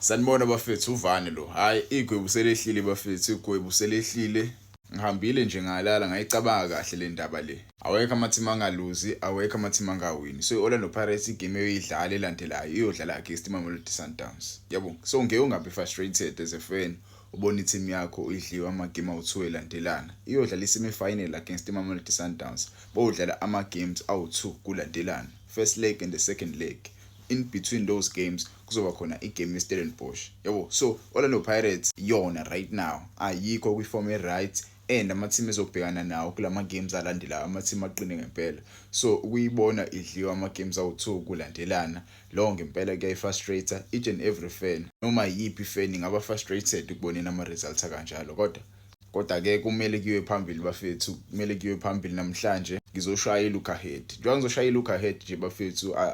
Sanibona bafethu uvani lo. Hayi igwebu selehlile bafethu igwebu selehlile. Ngihambile nje ngalala ngayicabanga kahle le ndaba le. Awekho ama-team angaluzi, awekho ama-team angawini. So i-Orlando Pirates igame eyoyidlala elandelayo iyodlala against iMamelodi Sundowns. Yabo. So ngeke ungabi frustrated as a fan ubona i-team yakho idliwe ama-game awu-2 elandelana. Iyodlala i-semi final against iMamelodi Sundowns. Bowudlala ama-games awu-2 kulandelana. First leg and the second leg. In between those games kuzoba khona igame yeStellenbosch yabo so Orlando Pirates yona right now ayikho kwiform eright and ama-team ezobhekana nawo kula ma-games alandelayo ama-team aqine ngempela so ukuyibona idliwa ama-games awu-two kulandelana lowo ngempela kuyayi-frustrator each and every fan noma yiyiphi fan ingaba frustrated ukuboneni ama-results akanjalo kodwa kodwa-ke kumele kuyiwe phambili bafethu kumele kuyiwe phambili namhlanje ngizoshaya i-look ahead njengoba ngizoshaya i-look ahead nje bafethu uh,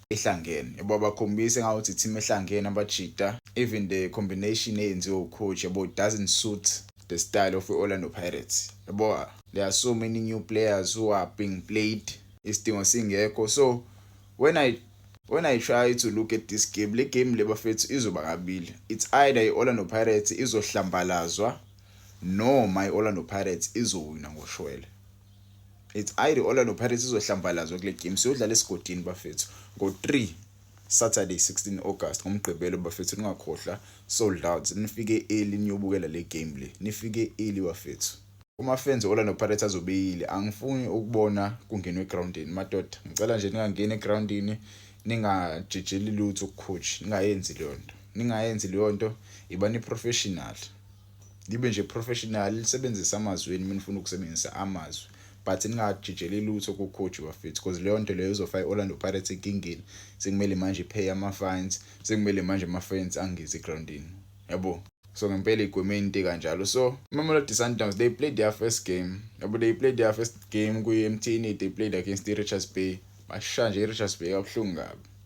ehlangene yabo abakhombise ngawuthi team ehlangene abajita even the combination eyenziwe ucoach yabo doesn't suit the style of Orlando Pirates yabo there are so many new players who are being played isidingo singekho so when i when i try to look at this game le game le bafethu izoba kabili it's either i-orlando pirates izohlambalazwa noma i-orlando pirates izowina ngoshwele It's either Orlando Pirates izohlambalazwa kule game siyodlala esigodini bafethu ngo-3 Saturday 16 August ngomgqibelo bafethu ningakhohlwa sold out nifike early niyobukela le game le nifike early bafethu uma fans Orlando Pirates azobeyile angifuni ukubona kungenwe egroundini madoda ngicela nje ningangeni egroundini ningajijeli lutho coach ningayenzi leyo nto ningayenzi leyo nto ibani professional nibe nje professional lisebenzisa amazwi enu nifuna ukusebenzisa amazwi but ningajijeli lutho kucoach bafethu because leyo nto leyo izofa i-orlando pirates enkingeni sekumele manje iphaye ama-fines sekumele manje ama-fines angezi egroundini yabo so ngempela igweme into kanjalo so imamelodi sundowns they played their first game yabo they played their first game kwi-mtn they played against i-richards bay bashaya nje i-richards bay kabuhlungu kabi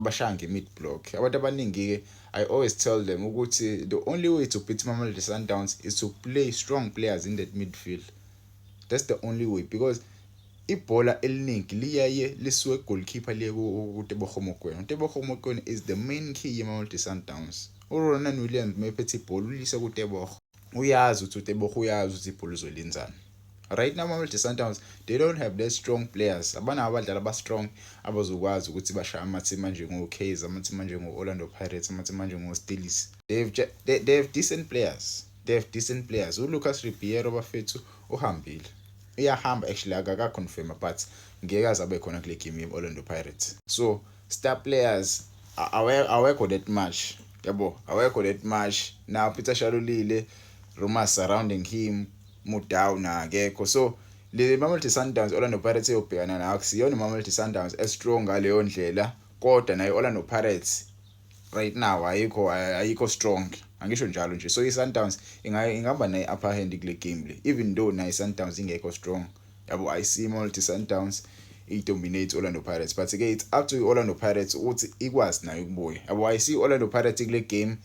bashaya nge-mid block abantu abaningi-ke i always tell them ukuthi the only way to beat mamelodi sundowns is to play strong players in that midfield that's the only way because ibhola eliningi liyaye lisuke goalkeeper liye kuteboho mokwena uteboho mokwena is the main key yemamelodi sundowns uronan williams mephethe ibhola ulise kuteboho uyazi ukuthi uTebogo uyazi ukuthi ibhola uzolinzana right now Mamelodi Sundowns they don't have that strong players abanawo abadlali abastrong abazokwazi ukuthi bashaye amathimba njengo-Kaizer amathimba njengo-Orlando Pirates amathimba njengo-Steelers they have, they, they have decent players they have decent players uLucas Ribeiro bafethu uhambile uyahamba actually akakaconfirma but ngeke azabe khona kule game ye-Orlando Pirates so star players awekho that much yabo awekho that much now Peter Shalulile rumors surrounding him Mudau na akekho so le Mamelodi Sundowns Orlando Pirates eyobhekana nayo kusiyona Mamelodi Sundowns estrong ngaleyo ndlela kodwa nayo Orlando Pirates right now ayikho ayikho strong angisho njalo nje so i-Sundowns ingahamba nayi-upper hand kule game le even though nayo i-Sundowns ingekho strong yabo i see multi sundowns i-dominate orlando pirates but ke it's up to i-orlando pirates ukuthi ikwazi nayo ukubuya yabo i see orlando pirates kule game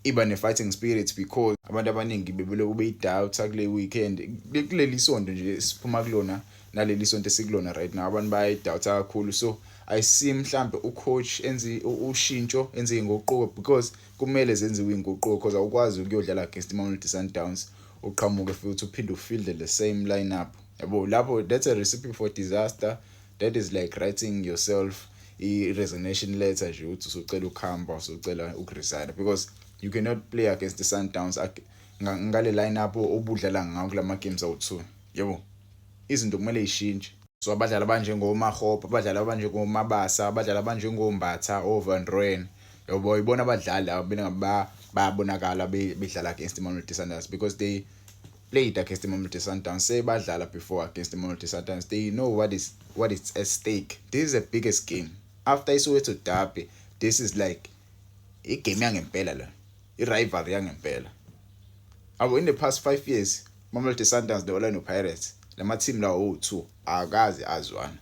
iba ne-fighting spirit because abantu abaningi bebelokhu beyidoubta kule weekend kuleli sonto nje siphuma kulona naleli sonto esikulona right now abantu bayayidoubta kakhulu so i see mhlambe ucoach enze ushintsho enze inguquko because kumele zenziwe inguquko because awukwazi ukuyodlala against imamelodi sundowns uqhamuke futhi uphinde ufilde the same lineup yabo lapho that's a recipe for disaster that is like writing yourself i-resignation letter nje ukuthi usucela ukuhamba usucela ukuresigna because you cannot play against the sundowns ngale lineup obudlala ngawo kula ma-games awu-two yabo izinto kumele yishintshe so abadlali abanjengomahope abadlali abanjengomabasa abadlali abanjengombatha ovan roen yabo ibona abadlali laba bena bayabonakala bedlala against imamelodi sundowns because they played against imamelodi sundowns sebadlala before against imamelodi sundowns they know what is what is at stake this is the biggest game after isoweto derby this is like igame yangempela la i-rivalry yangempela abo in the past five years Mamelodi Sundowns ne-Orlando Pirates lamathimu lawo wowu-two akaze azwana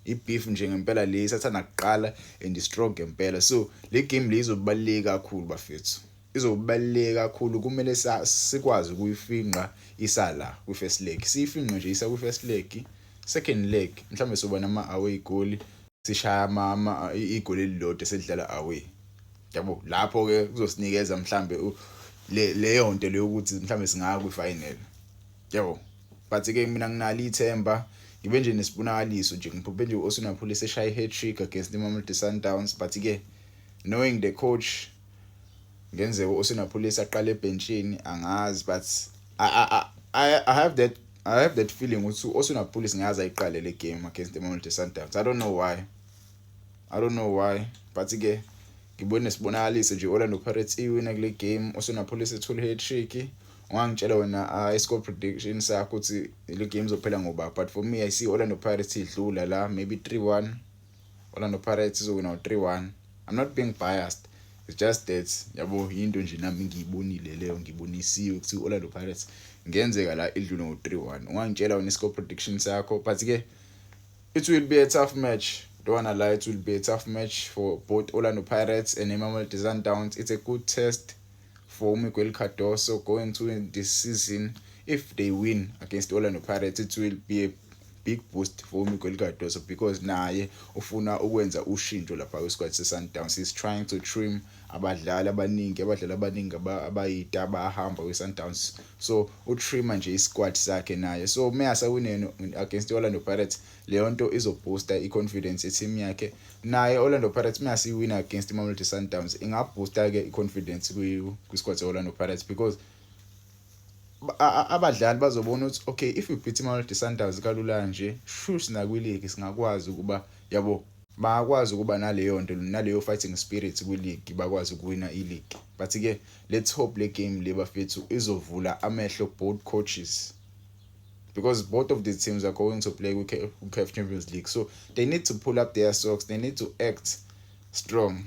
i-beef nje ngempela le isathanda kuqala and strong ngempela so le game le izobaluleke kakhulu bafethu izobaluleke kakhulu kumele sikwazi ukuyifinqa isala kwi-first leg siyifinqe nje isa kwi-first leg second leg mhlawumbe soba nama-away goli sishaya ama igoli elilodwa selidlala away yabo lapho ke kuzosinikeza mhlambe leyo nto leyokuthi mhlambe singaya kwi final yabo but ke mina nginali ithemba ngibe nje nesibonakaliso nje ngiphuphe nje osinaphule seshaya i-hat trick against imamelodi sundowns but ke knowing the coach ngenzeka usinapholisa aqale ebhentshini angazi but I, I, I, I have that I have that feeling ukuthi osinapholisa ngaze ayiqale le game against the Mamelodi Sundowns I don't know why I don't know why but ke ngibone sibonakaliso nje Orlando Pirates iwina kule game osinapholisa ethola i-hat trick ungangitshela wena ah, i-score prediction sakho ukuthi le game izophela ngoba but for me i see Orlando Pirates idlula la maybe 3-1 Orlando Pirates izowina u-3-1 I'm not being biased it's just that yabo yinto nje nami ngiyibonile leyo ngibonisiwe ukuthi i-Orlando Pirates ngenzeka la idlule ngo-3-1 ungangitshela wena i-score prediction sakho but ke it will be a tough match don't wanna lie it will be a tough match for both Orlando Pirates and Mamelodi Sundowns it's a good test for Miguel Cardoso going to win this season if they win against Orlando Pirates it will be a big boost for uMiguel Cardoso because naye ufuna ukwenza ushintsho lapha kwisikhathi seSundowns he's trying to trim abadlali abaningi abadlali abaningi abayita abahamba kwiSundowns so utrima nje isquad sakhe naye so uma asawinene against Orlando Pirates leyo nto izoboosta i-confidence yeteam yakhe naye Orlando Pirates uma siwina against Mamelodi Sundowns ingaboosta ke i-confidence kwi-squad se-Orlando Pirates because abadlali bazobona ukuthi okay if we beat imamelodi sundowns kalula nje shush nakwiligi singakwazi ukuba yabo bangakwazi ukuba naleyo nto naleyo fighting spirit kwiligi bakwazi ukuwina iligi but-ke let's hope le game le bafethu izovula amehlo both coaches because both of these teams are going to play with CAF Champions League. So they need to pull up their socks. They need to act strong.